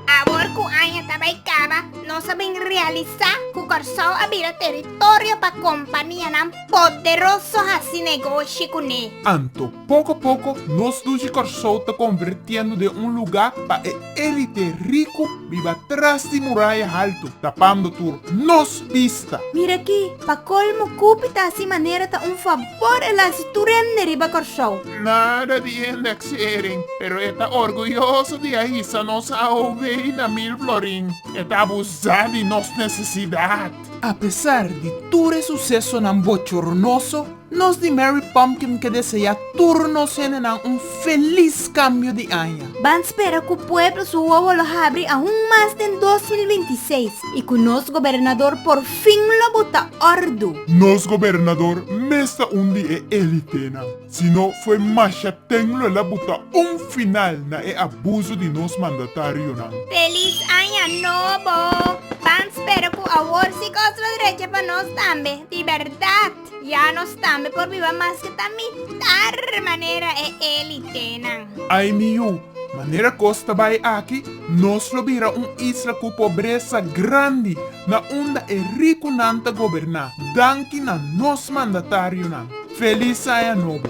Awor ku aña ta bai kaba, nos a bin realisá ku Kòrsou a bira teritorio pa kompanianan poderoso hasi negoshi kuné. Anto, poko poko nos dushi Kòrsou ta konvertiendo den un lugá pa e. Élite riku biba tras di muraya haltu, tapando tur nos bista. Mira aki, pa kolmo kupi ta hasi manera ta un fabor el hasi tur hende riba Kòrsou. Nada di indeksering, pero e ta orguyoso di a hisa nos AOW na Milflorin. E ta abusá di nos nesesidat. Apesar di tur e susesonan bochoronoso, Nos di Mary Pumpkin ke deseá tur nos hendenan un felis kambio di aña. Ban spera ku pueblo su wowo lo habri aun mas den dos mil binti i seis i ku nos gobernador por fin lo botá òrdu. Nos gobernador mes ta un di e elitenan, sino fue masha teng lo el a botá un final na e abuso di nos mandatarionan. Felis aña nobo! Ban spera ku awor si kos lo drecha pa nos tambe di bèrdat. Ya nos tambe por biba maske ta mitar manera e elitenan. Ai mi yu, manera kos ta bai aki, nos lo bira un isla ku pobresa grandi na unda e rikunan ta goberná, danki na nos mandatarionan. Felis Aña Nobo!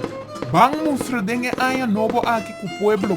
Ban mustra den e Aña Nobo aki ku pueblo